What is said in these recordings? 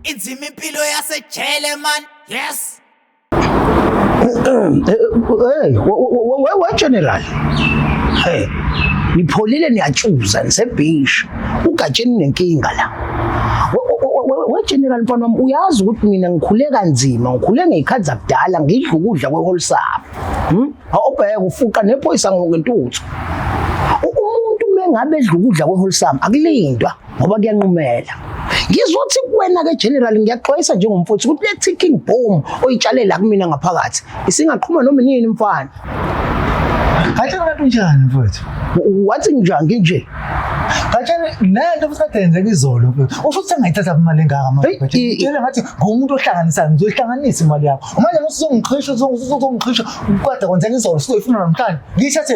inzima impilo yasejele man yes Hey, we general. Hey. Nipholile niyatshuza nisebhishi. Ugatsheni nenkinga la. We general mfana wami uyazi ukuthi mina ngikhule kanzima, ngikhule ngezikhathi zakudala ngidla ukudla kwe whole sap. Hm? Awubheke ufuqa nephoyisa ngokentuthu. Umuntu mengabe edla ukudla kwe whole sap akulindwa. ngoba kuyanqumela ngizothi kuwena ke general ngiyaxwayisa njengomfowethu ukuthi le ticking bomb oyitshalela kumina ngaphakathi isingaqhuma noma nini mfana Ngathi kanti unjani mfowethu? Wathi njani nginje? Ngathi lento futhi kade yenzeka izolo mfowethu. Usho ukuthi sengayithatha imali engaka manje mfowethu. Ngitshela ngathi ngumuntu ohlanganisayo ngizoyihlanganisa imali yakho. Manje usuzongixhisha usuzongixhisha kwade kwenzeka izolo sizoyifuna namhlanje. Ngiyithathe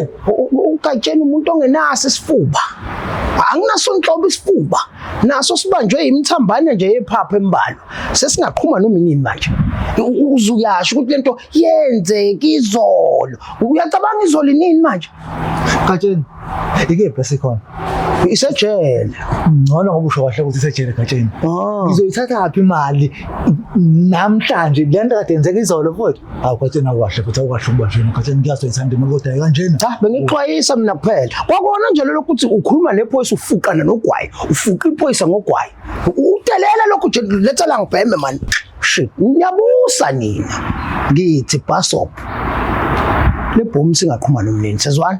ukatsheni umuntu ongenaso isifuba anginaso nhlobo isifuba naso sibanjwe imithambane nje yephapha embalo sesingaqhuma noma inini manje uzuyasho ukuthi lento yenzeke izolo uyacabanga izolo inini manje gatsheni ikephi esikhona isejele ngcono ngoba usho kahle ukuthi isejele gatsheni ah. ngizoyithatha phi imali namhlanje lento kade yenzeka izolo futhi Hawu kwathina kwahle futhi awukahle ukuba njena kwathina ngiyazwa ithanda imali kodwa kanjena. Cha bengixwayisa mina kuphela. Kwakona nje lokho ukuthi ukhuluma nephoyisa ufuqana nogwayi, ufuqa iphoyisa ngogwayi. Udelela lokho nje letha la ngibheme man. Shit, ngiyabusa nina. Ngithi bus stop. Lebhomu singaqhuma nomnini sezwana.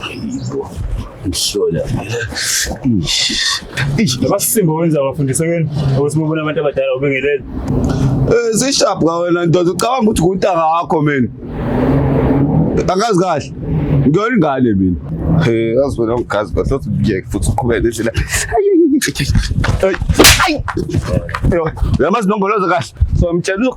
Hayibo. Ngihlola phela. Ish. Ish. Abasimba wenza abafundisa kweni ukuthi bobona abantu abadala ubengelele. Eh zishap ka wena ndoda ucabanga ukuthi kuntanga wakho mina. Angazi kahle. Ngiyona ingane mina. Eh yazi wena ungazi kahle uthi ngiyeke futhi uqhubeke nendlela. Ayi. Ayi. Yamazi nongoloza kahle. So ngitshela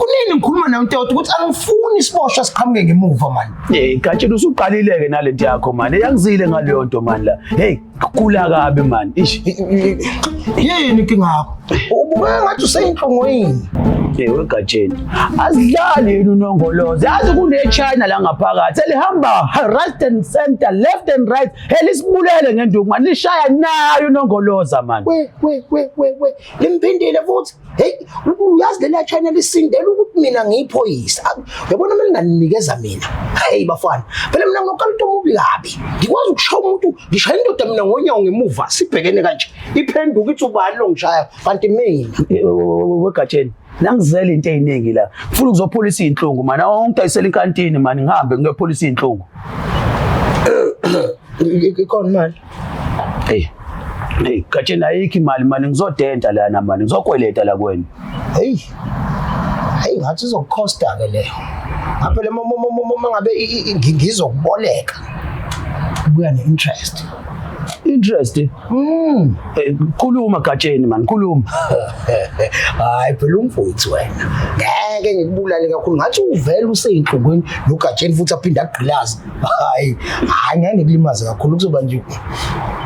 kunini ngikhuluma nawe ntoda ukuthi angifuni siboshwa siqhamuke ngemuva mani hey gatshela usuqalile-ke nale nto yakho mani eyangizile ngaleyo nto mani la hey kula kabi mani ish yini kingakho ubukeka ngathi useyinhlungu yini ewe gatsheni asidlali yini unongolozi yazi kunechina la ngaphakathi elihamba right and center left and right elisibulele ngenduku mani lishaya nayo unongoloza mani limphindile futhi hey uyazi leli achina lisindela ukuthi mina ngiyiphoyisa yabona mina nganinikeza mina hey bafana phela mina ngokuqala into omubi kabi ngikwazi ukushaya umuntu ngishaya indoda mina ngonyawo ngemuva sibhekene kanje iphenduka ithi ubani lo ngishaya kanti mina wegatsheni nangizela into eziningi la ngifuna ukuzopholisa izinhlungu mana ongidayisela inkantini mani ngihambe ngiyopholisa izinhlungu ikhona manje Hey. Hey, katsheni ayikho imali mani ngizodenta lana mani ngizokweleta la kwena. Hey. Hey, ngathi izokukhosta ke leyo. Ngapha le mama mama ngabe ngizokuboleka. Kuya ne interest. interest mm eh, khuluma gatsheni man khuluma hayi phela umfowethu wena ngeke ngikubulale kakhulu ngathi uvela useyinhlungwini nogatsheni futhi aphinde agqilaze hayi hayi ngeke ngikulimaze kakhulu kuzoba nje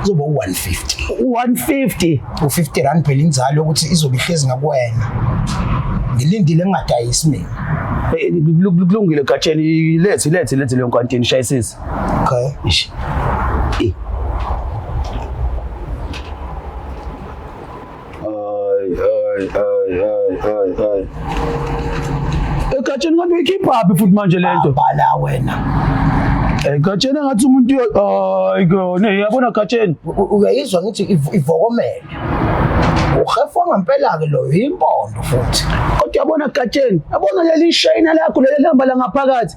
kuzoba u-150 150 u-50 rand phela inzalo yokuthi izobe ihlezi ngakuwena ngilindile ngingadayisi mina Eh, lu- lu- kulungile gatsheni lethi lethi lethi leyo nkantini shayisisi okay Eish. Eh, Ay, ay, ay, ay, ay, ay. Egatsheni kanti uyikhipha phi futhi manje lento? Bhala wena. Egatsheni ngathi umuntu ay kone yabona gatsheni. Uyayizwa ngithi ivokomele. Uhefu ngampela ke loyo impondo futhi. Kodwa yabona gatsheni, yabona leli shayina lakho leli lihamba la ngaphakathi.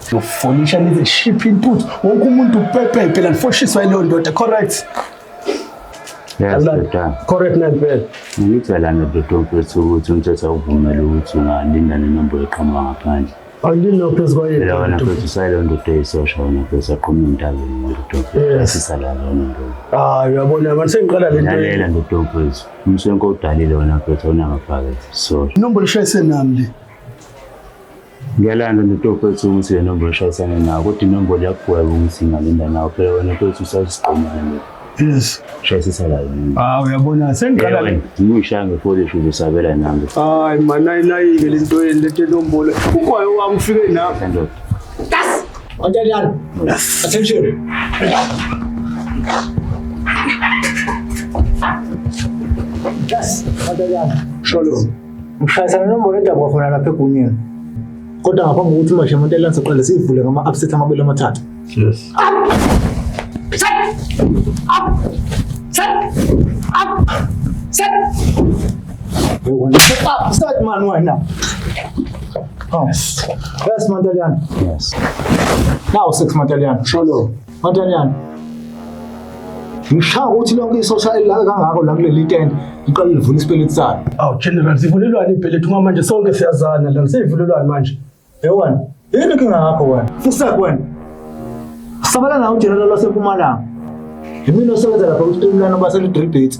Siyofonisha nize shiphe intuthu. Wonke umuntu upepe phela nifoshiswa leyo ndoda, correct? Yes, Dodana. Correct na impela. Ngicela ndoda mfethu ukuthi umthetho awuvumele ukuthi ungalinda nenombolo eqhamuka ngaphandle. Angilina phezu kwayo. Phela wena mfethu usayile ndoda eyisosha wena mfethu aqhume emntabeni ndoda mfethu asisala lona ndoda. Ah, uyabona manje sengiqala le nto. Lalela ndoda mfethu. Umswenko udalile wena mfethu awunamaphakethe. Sorry. Inombolo ishayise nami le. Ngiyalanda nto kwethu ukuthi le nombolo ishayisane nawo kodwa inombolo yakugweba ukuthi ingalinda nawo phela wena kwethu usasiqomile nje yes shayisisa la yini ah uyabona sengiqala Ewe, ngiyishaya ngefoli shuthi usabela nami hayi mana inayike le nto yeni lethe nombolo umoya wami ufike nami sendoda Ontalyani. Attention. Yes, Ontalyani. Shalom. Ngishayisana nenombolo edabwa khona lapha egunyeni. Kodwa ngaphambi kokuthi umashe umuntu elansa qale siyivule ngama upset amabili amathathu. Yes. Set! Up! Set! Up! Set! Up! Set man wena. Oh. Yes, Mandalian. Yes. Now, six Mandalian. Shalom. Matanyana. Ngishaya ukuthi lonke isosha elilaka kangako la kuleli tende liqale livula isipeleti salo. Aw General sivulelwani impeleti uma manje sonke siyazana la sivulelwani manje. Yewani. Yini kinga yakho wena? Fusak wena. Sabala nawo General waseMpumalanga. Yimina osebenza lapha kuStimulano baselidribheti.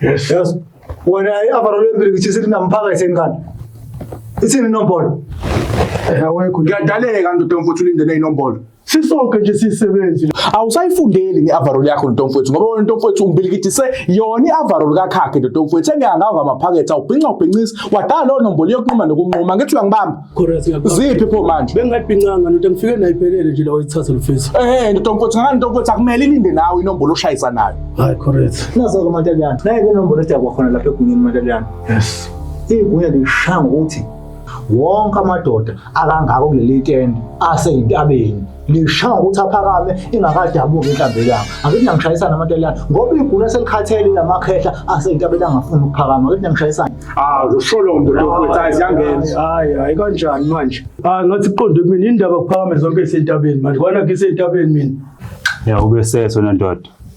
Yes. Yes. Wena i-overall embili kuthi sithi namphaka esenkani. Ithini inombolo? Eh, awekho. Ngiyadaleka ndoda mfuthu ulindele inombolo. Sisonke nje sisebenzi. Awusayifundeli nge-overall yakho ndoda mfuthu ngoba wena ndoda mfuthu umbilikithi se yona i-overall kakhakhe ndoda mfuthu engihangawa ngamaphakethe awubhinca ubhincisa wadala lo nombolo yokunquma nokunquma ngithi uyangibamba. ziphi pho manje bengingayibhincanga ndoda ngifike nayo iphelele nje lawo ithathe lufisa eh ndoda mfowethu ngani ndoda mfowethu akumele ilinde nawe inombolo oshayisa nayo hayi correct nazo ke mantaliyana naye ke inombolo edakwa khona lapha egunyeni mantaliyana yes igunya lishanga ukuthi wonke amadoda akangako kuleli tende aseyintabeni lishaya ukuthi aphakame ingakadabuki intabelanga angithi nangishayisana amantelana ngoba igula selikhathele lamakhehla aseyintabela angafuni ukuphakama angithi nangishayisana ah usholo ndoda ukuthi ayizangena hayi hayi kanjani manje ah ngathi kuqonde kumina indaba kuphakame zonke isentabeni manje kwana ngisentabeni mina ya ube seso nendoda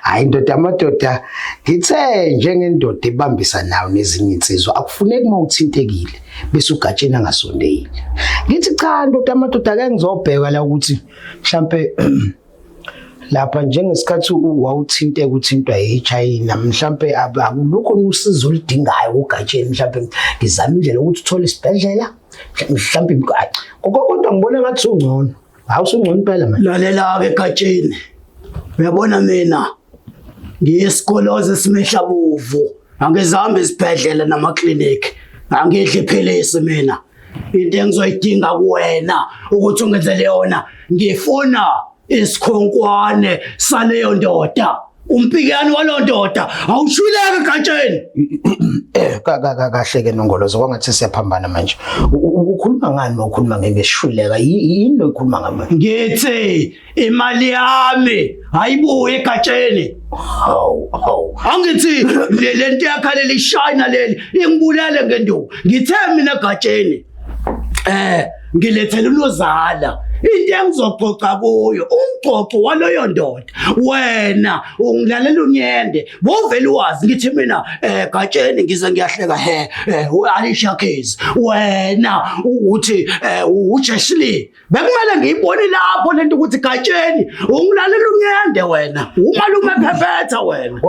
hayi ndoda amadoda ngithe njengendoda ebambisa nawo nezinye insizwa akufuneki uma uthintekile bese ugatsheni angasondeli ngithi cha ndoda amadoda ake ngizobheka la ukuthi mhlampe lapha njengesikhathi wawuthinte kuthintwa yiChina mhlambe akulukho usizo oludingayo ugatsheni mhlambe ngizama indlela ukuthi uthole isibhedlela mhlambe kodwa ngibona ngathi ungcono Hawu sungcono impela manje. Lalela-ke egatsheni. Uyabona mina ngiyisikolozi esimehla bovu. Angizihambi izibhedlela namaklinikhi. Angidli iphilisi mina. Into engizoyidinga kuwena ukuthi ungenzele yona ngifuna isikhonkwane saleyo ndoda. Umpikani walondoda awushuleke gatsheni. Ka ka ka kahle ke nongolozo kwangathi siyaphambana manje. U- u- Ukhuluma ngani nokhuluma ngebeshuleka? Yini lo ukhuluma ngami? Ngithi imali yami ayibuye gatsheni. Hawu, hawu. Angithi le lento yakhalela ishayina leli ingibulale ngenduku. Ngithe mina gatsheni. Eh, ngilethele unozala into engizoxoxa kuyo umxoxo waloyo ndoda wena ungilalela unyende bovele wazi ngithi mina eh gatsheni ngize ngiyahleka he eh, u-Alicia Keys wena ukuthi eh, uJeshly bekumele ngiyibone lapho lento ukuthi gatsheni ungilalela unyende wena umalume phephetha wena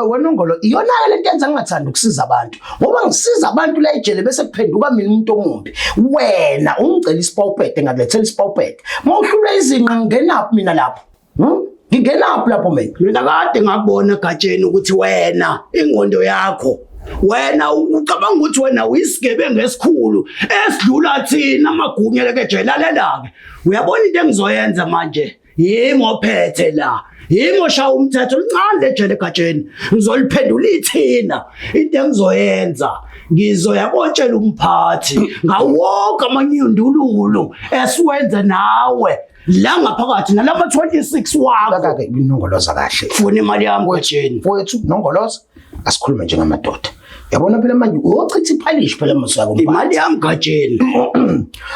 wena ungolo iyona-ke lento yenza ngingathandi ukusiza abantu ngoba ngisiza abantu la ejele bese kuphenduka mina umuntu omumbi wena ungicela isipawupete ngakulethela isipawupete uma uhlulwe izinqa ngingenaphi mina lapho Hmm? Ngingenaphi lapho mina? Mina kade ngakubona egatsheni ukuthi wena ingqondo yakho wena ucabanga ukuthi wena uyisigebengu esikhulu esidlula thina amagunya lekejele lalela-ke uyabona into engizoyenza manje yimi ophethe la yimi oshaya umthetho lincane lejele egatsheni ngizoliphendula ithina into engizoyenza ngizoya kotshela umphathi ngawonke amanyundululu esiwenze nawe la ngaphakathi nalama 26 wakho kaka inongoloza kahle funa imali yami kwejeni mfowethu nongoloza asikhulume njengamadoda yabona phela manje uyochitha iphalishi phela msako imali yami gajeni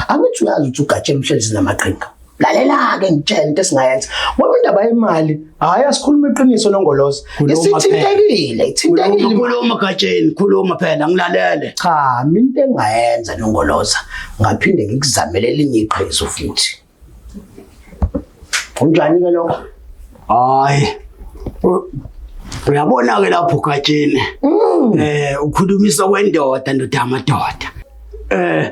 angithi uyazi ukuthi ugajeni mhlezi namaqhinga lalela-ke ngitshela into esingayenza ngoba indaba yemali Hayi asikhuluma iqiniso noNgolozi. Khuluma phela. Isithintekile, ithintekile. Khuluma gatsheni, khuluma phela ngilalele. Cha, mina into engayenza noNgoloza ngaphinde ngikuzamele elinye iqhizo futhi. Unjani ke lokho? Hayi. U- Uyabona ke lapho gatsheni. Eh ukhulumisa kwendoda ndoda amadoda. Eh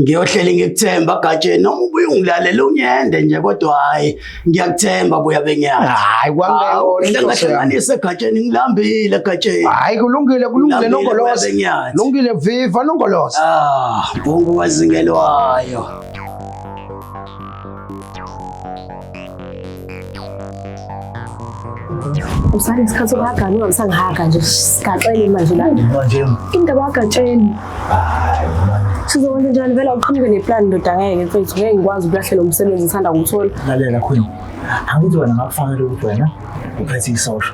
Ngiyohleli ngikuthemba Gatsheni noma ubuye ungilalele unyende nje kodwa hayi ngiyakuthemba buya benyana. Hayi kwangeke ngihlanganise Gatsheni ngilambile Gatsheni. Hayi kulungile kulungile nongoloza. Lungile viva nongoloza. Ah, bongo wazingelwayo. usane isikhathi sokuhagana ungamsangihaga nje sigaxele manje la indaba wagatsheni sizokwenza njani vele uqhamuke neplani ndoda ngeke mfethu ngeke ngikwazi ukulahlela umsebenzi ngithanda kuwuthola lalela khona angithi wena ngakufanele ukuthi wena uphethe isosha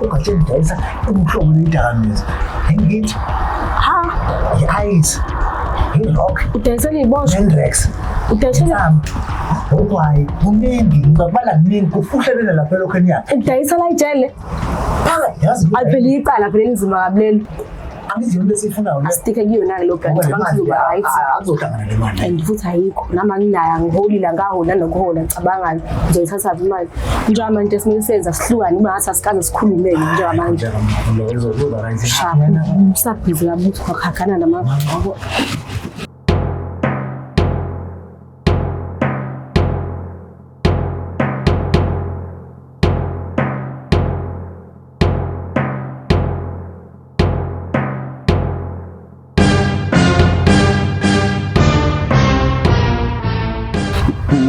ungatsho ukudayisa umhlobo lwedakamizwa ngithi ha i-ice i-rock udayisela iy'bosho nenrex udayisela ogwayi kuningi ngibabala kuningi kufuhlelele lapha elokhu enyaka udayisela ijele phakathi yazi aphele icala phela elinzima kabi lelo asitike kuyona-ke lo grantizoba-right and futhi ayikho nami anginayo angiholile angaholi anokuhola ngicabangani ngizoyithathaphi imali njengamanje esimele senza sihlukane uba ngathi asikaze sikhulumele njengamanje usabhizi kabuthi kwakhagana nama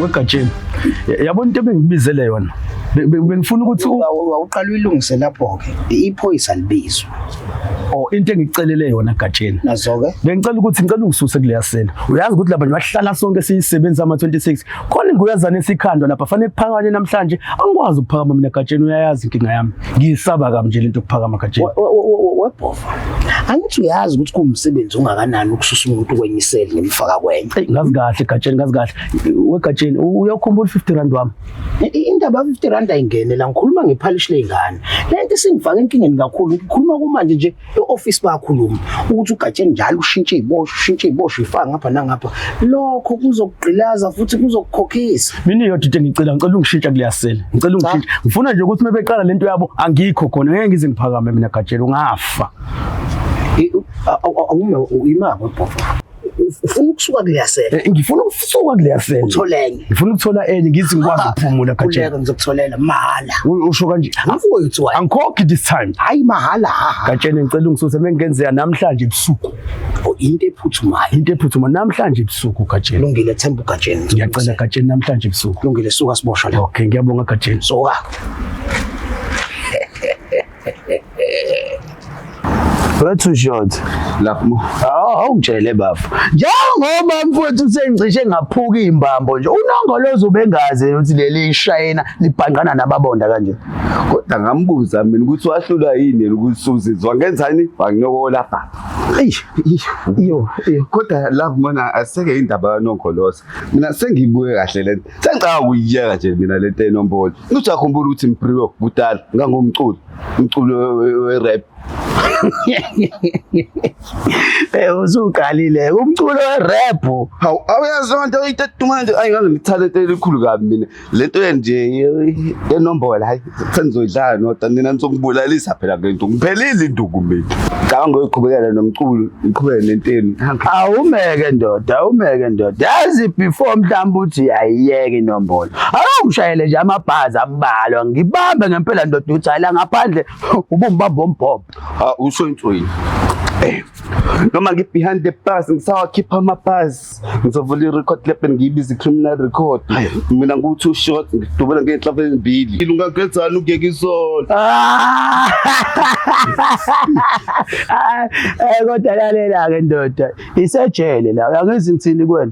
wegatsheni yabona into ebengibizele yona bengifuna ukuthi wawuqala uyilungise lapho-ke iphoyisa libizwa or oh, into engicelele yona gatsheni nazoke bengicela ukuthi ngicela ungisuse kuleya sela uyazi ukuthi laba nje bahlala sonke siyisebenza ama-26 khona inguyazana esikhandwa lapha fanele kuphakanye namhlanje angikwazi ukuphakama mina gatsheni uyayazi inkinga yami ngiyisaba kabi nje lento yokuphakama gatsheni webhova angithi uyazi ukuthi kuwumsebenzi ongakanani ukususa umuntu kwenye iseli ngimfaka kwenye ngazi kahle gatsheni ngazi kahle wegatsheni uyawukhumbula u-50 rand wami indaba ya-50 rand ayingene la ngikhuluma ngephalishi ley'ngane le nto isingifake enkingeni kakhulu ngikhuluma kumanje nje e-office bayakhuluma ukuthi ugatsheni njalo ushintshe iboshwa ushintshe iboshwa ifaka ngapha nangapha lokho kuzokugqilaza futhi kuzokukhokhisa mina yodwa into engicela ngicela ungishintsha kuleyasela ngicela ungishintsha ngifuna nje ukuthi mebeqala lento yabo angikho khona ngeke ngize ngiphakame mina gatsheni ungafa awume uyimako bhofo ufuna ukusuka kuleya sele eh, ngifuna ukusuka kuleya sele uthole enye ngifuna ukuthola enye ngithi ngikwazi ukuphumula gatshela kuleka ngizokutholela mahhala usho kanje angifuyo uthiwa angikhokhi this time hayi mahhala gatshela ngicela ungisuse mengenzeka namhlanje ebusuku oh, into ephuthumayo into ephuthumayo namhlanje ebusuku gatshela lungile themba ugatshela ngiyacela gatshela namhlanje ebusuku lungile suka siboshwa la okay ngiyabonga gatshela suka But too short. Lapho. Oh, awungitshele bafo. Njengoba mfowethu sengicishe ngaphuka imbambo nje. Unongolozo ubengazi ukuthi leli ishayina libhangqana nababonda kanje. Kodwa ngambuza mina ukuthi wahlula yini ukuthi uzizwa ngenzani? Wanginyokola baba. Eish. Yo, yo. Kodwa lapho mina aseke indaba yonongolozo. Mina sengibuye kahle lento. Sengicabanga ukuyiyeka nje mina lento enombolo. Uthi akhumbula ukuthi Mpriwe kudala ngangumculi, umculi we-rap. Eh usuqalile umculo we-rap. Hawu awuyazi lento itetumanje ayi ngaze ngithalente elikhulu kabi mina. Lento nje enombolo hayi sengizoyidlala nodwa nina nizokubulalisa phela ngento. Ngiphelile induku mina. Cabanga ngoyiqhubekela nomculo, ngiqhubeke nenteni. Awumeke ndoda, awumeke ndoda. Yazi before mhlawumbe uthi ayiyeke inombolo. Awungishayele nje amabhazi ambalwa ngibambe ngempela ndoda uthi hayi la ngaphandle ubumbamba ombhobho. Ha usho intswini. Eh. Noma ngi behind the bars ngisawakhipha ama bars ngizovula i record lab ngiyibiza criminal record. Mina ngu two shot ngidubula ngenhla ezimbili. Ilungagezana ukuyeka izona. Ah! Eh kodwa lalela ke ndoda isejele la uyangizithini kwena.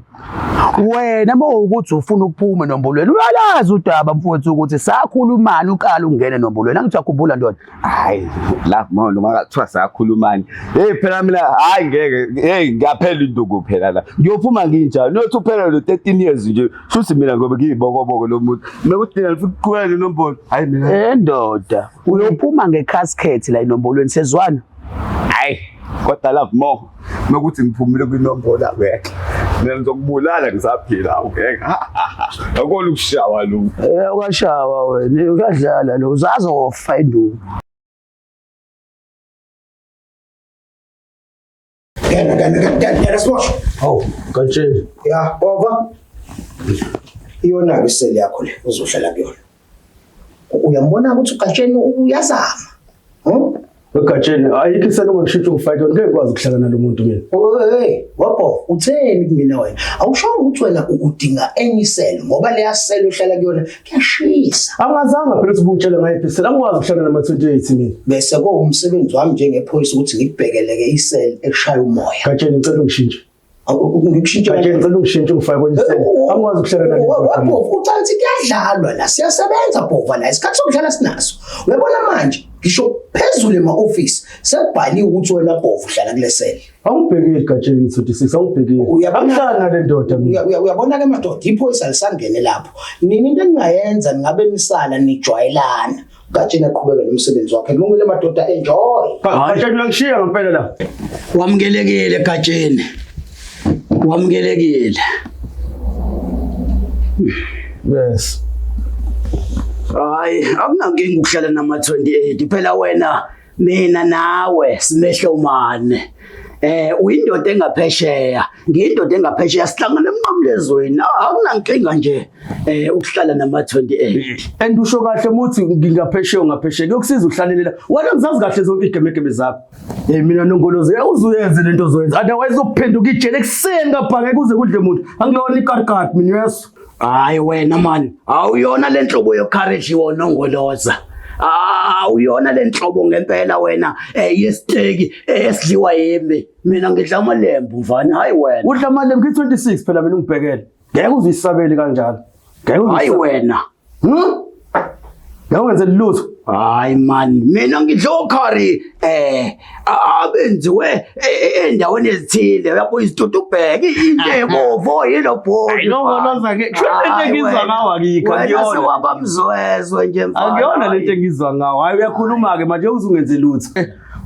wena uma ukuthi ufuna ukuphuma nombulweni uyalazi udaba mfowethu ukuthi sakhulumani uqala ungene nombulweni angithi uyakhumbula ndoda hayi la mona ungakuthiwa sakhulumani hey phela mina hayi ngeke hey ngiyaphela induku phela la ngiyophuma nginjani nothi uphela lo 13 years nje futhi mina ngoba ngiyibokoboko lomuntu mekuthi nina lifuna ukuqhubeka nombolo hayi mina endoda eh, Uyophuma ngecasket la inombolweni sezwana. Hayi, kodwa love more. Nokuthi ngiphumile kwinombola ngeke. Mina ngizokubulala ngisaphila ngeke. Akona ukushawa lo. Eh ukashawa wena, uyadlala lo. Uzazofa induku. Gel gel gel gel yarası boş. Hawu, kanje. Ya baba. Iyona ke seli yakho le uzohlala kuyona. Uyambona ukuthi uGatsheni uyazama. Hm? Egatsheni ayikho iselo ngishitshe ufake ngeke kwazi ukuhlala nalomuntu mina. Hey, wabo utheni kumina wena? Awushongo ukuthi wena udinga enye iselo ngoba leya selo uhlala kuyona Kuyashisa. Angazanga phela ukuthi ubungitshela ngaye phela angikwazi ukuhlala nama 28 mina. Bese kuwumsebenzi wami njengephoyisa ukuthi ngikubhekeleke isel eshaya umoya. Gatsheni ngicela ungishintshe. Ngikushintshe gatsheni ngicela ungishintshe ngifake kwenye isel. Angikwazi ukuhlala nani. Wapho ucela ukuthi kuyadlalwa la siyasebenza bhova la isikhathi sokudlala sinaso. Uyabona manje ngisho phezulu ema office sekubhaliwe ukuthi wena bhova uhlala kulesel. Awubhekile egatsheni 36 awubhekile. Akuhlala nale ndoda mina. Uyabona ke madoda iphoyisa lisangene lapho. Nini into engingayenza ningabe nisala nijwayelana. Gatsheni aqhubeke nomsebenzi wakhe. Kulungile madoda enjoy. Gatsheni uyangishiya ngempela la. Wamukelekile gatsheni. Wamukelekile. Yes. Hayi, akunankinga ukuhlala nama 28 phela wena mina nawe simehlomane eh uyindoda engaphesheya ngiyindoda engaphesheya sihlangana emnqamlezweni akunankinga nje eh ukuhlala nama 28 and usho kahle muthi ngingaphesheya ngaphesheya kuyokusiza uhlalelela wena ngizazi kahle zonke igemegeme zakho eh mina nongolozi uzuyenze lento ozoyenza otherwise ukuphenduka ijele kuseni kabhange kuze kudle umuntu angilona ikarkat mina yeso hayi wena mani awuyona le nhlobo yokhareji wonongoloza awuyona le nhlobo ngempela wena eh, yesiteki eh, esidliwa yimi mina ngidla amalembu mfana hayi wena udla amalembu ngi-26 phela mina ungibhekele ngeke uzisabeli kanjalo ngeke hayi wena Hmm? Yawenze lutho. Hayi man, mina ngidla ukhari eh abenziwe e, e, endaweni ezithile uyabo izitutu ubheke into ebovo yilo bhodi. Hayi no no zake. Lento engizwa ngawo akikho akuyona. Wena wabamzwezwe nje mfana. Akuyona lento engizwa ngawo. Hayi uyakhuluma ke manje uzungenze lutho.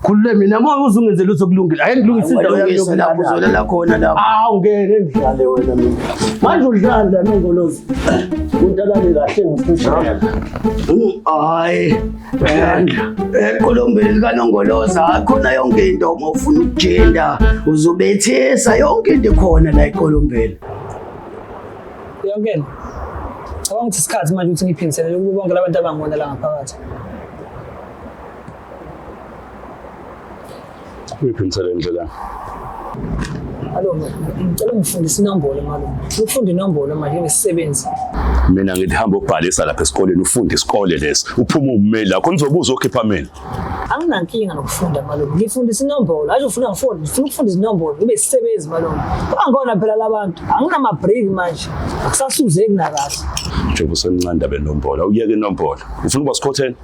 Khulule mina moya uzungenze lutho kulungile. Ake ngilungise indawo yami yokulapho uzolala khona lapho. Ah ungeke ngidlale wena mina. Manje udlala nongolozi. Untalane kahle ngifishana. Hayi. Yandla. Eqolombeni lika nongoloza khona yonke into uma ufuna ukujenda uzobethesa yonke into khona la eqolombeni. Yongena. Cabanga ukuthi isikhathi manje ukuthi ngiphindiselele kubo bonke labantu abangibona la ngaphakathi. Uyiphindisele indlela. Alo, ngicela ngifundise inombolo malume. Ufunde inombolo manje ngesisebenzi. Mina ngithi hamba ubhalisa lapha esikoleni ufunde isikole lesi. Uphuma ummeli lakho nizobuza okhipha mina. Anginankinga nokufunda malume. Ngifundise inombolo. Aje ufuna ngifunde, ngifuna ukufunda izinombolo. Ngibe isisebenzi malume. Bangona phela labantu. Anginama break manje. Akusasuzeki nakahle. Njengoba usemncane ndaba enombolo. Awuyeke inombolo. Ufuna ukuba sikhotheni?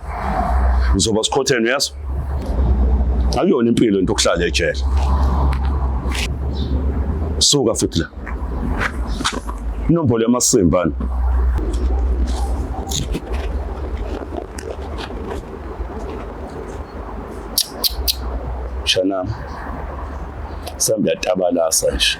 ngizoba sikhotheni uyazi akuyona impilo into okuhlala ejele suka futhi la inombolo yamasimbana shana sambe yatabalasa nje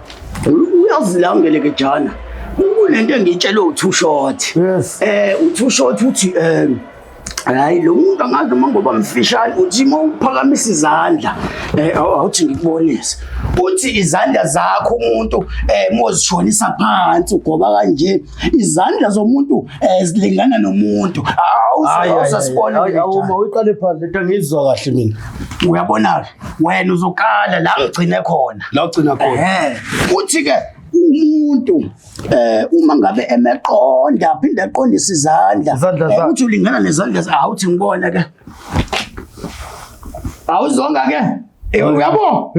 uyazilangele ke jana kunento engiyitshelwe u-two short yes eh u-two short uthi um hayi lo muntu angazi noma ngoba mfishane uthi uma uphakamisa izandla um awuthi ngikubonise uthi izandla zakho umuntu um eh, mozishonisa phansi ugoba kanje izandla zomuntu um zilingana nomuntu awusasibona uma uyiqale phansi lento ngiyizwa kahle mina uyabona-ke wena uzokala la ngigcine khona la ugcina khona futhi ke umuntu eh uma ngabe emeqonda phinde aqondise izandla eh, uthi ulingana nezandla awuthi ngibona ke awuzonga ke eh, uyabo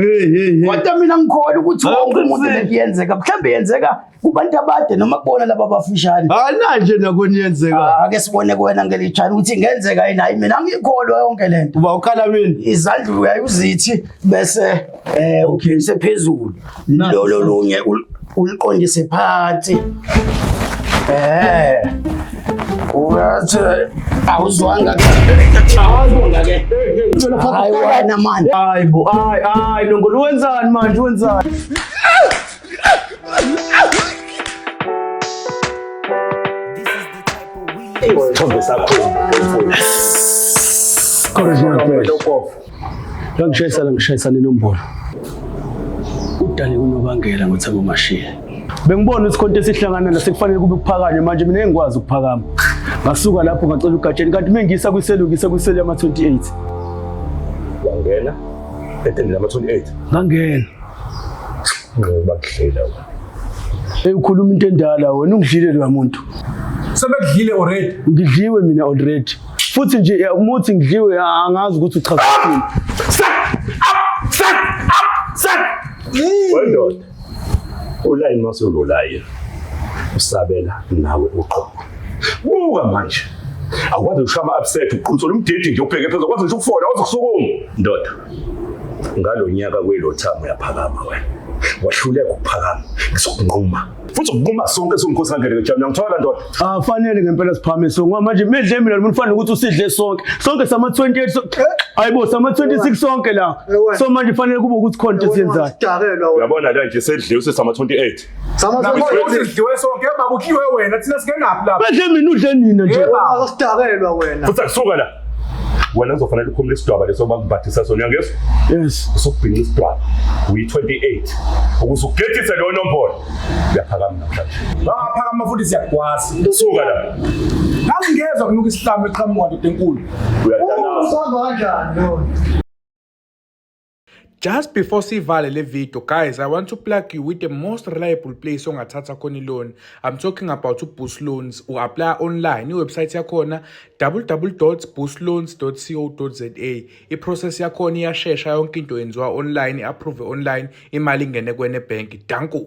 kodwa mina ngikhona ukuthi wonke umuntu leyenzeka mhlawumbe yenzeka kubantu abade noma kubona laba abafishane ananje nakoni yenzeka ake sibone kuwena ngelichana ukuthi ingenzeka yini hayi mina ngikholwa yonke lento uba ukhala mina izandla uyayizithi bese eh ukhilise phezulu lolo lunye uliqondise phansi eh uyathi awuzwanga awuzwanga ke hayi wena manje hayi bo hayi hayi nongolo wenzani manje wenzani Isithombe sakho. Original play. Ngangishayisana ngishayisana inombolo. Udale unobangela ngothi abumashiye. Bengibona ukuthi konke esihlangana la sekufanele kube kuphakanye manje mina engikwazi ukuphakama. Ngasuka lapho ngacela ugatsheni kanti mengisa kwiselu ngisa kwiselu yama 28. Wangena etendeni lama 28. Ngangena. Ngoba kudlela wena. Hey ukhuluma into endala wena ungidlile lo muntu. Sebekudlile already. Ngidliwe mina already. Futhi nje eh, umuthi ngidliwe ah, angazi ukuthi uchaza ukuthini. Sat! Up! Sat! Up! Sat! Wendoda. Ulayini masololayo. Usabela nawe uqobo. Buka manje. Awukwazi ushama upset uqhunsola umdidi nje ubheke phezulu. Awukwazi nje ukufona, awukwazi ukusukuma. Ndoda. ngalo nyaka kwelothamo uyaphakama wena wahluleka ukuphakama ngizokunquma futhi ukunquma sonke singumkhosi kangeleke jam ngiyangithola ndoda afanele ngempela siphamise ngoba manje medle mina lomfana ukuthi usidle sonke sonke sama 28 ayibo sama 26 sonke la so manje fanele kube ukuthi khona into esiyenzayo uyabona la nje sedle usesama 28 Udliwe wena thina singenaphi lapha. Bedle mina udle nina nje. Awusidakelwa wena. Futhi akusuka la. wena kuzofanele ukhumule isidwaba leso bakubhathisa sona uyangezwa yes usukubhinca isidwaba uyi-28 ukuze ugethise leyo nombolo uyaphakama namhlanje bangaphakama futhi siyakwazi suka la ngangingezwa kunuka isihlamu eqhamuka ndoda enkulu uyadala usazwa kanjani Just before sivale le video guys I want to plug you with the most reliable place ongathatha khona loan I'm talking about uBoost Loans u apply online iwebsite yakhona www.boostloans.co.za iprocess yakhona iyashesha yonke into yenziwa online approve online imali ingene kwene bank danko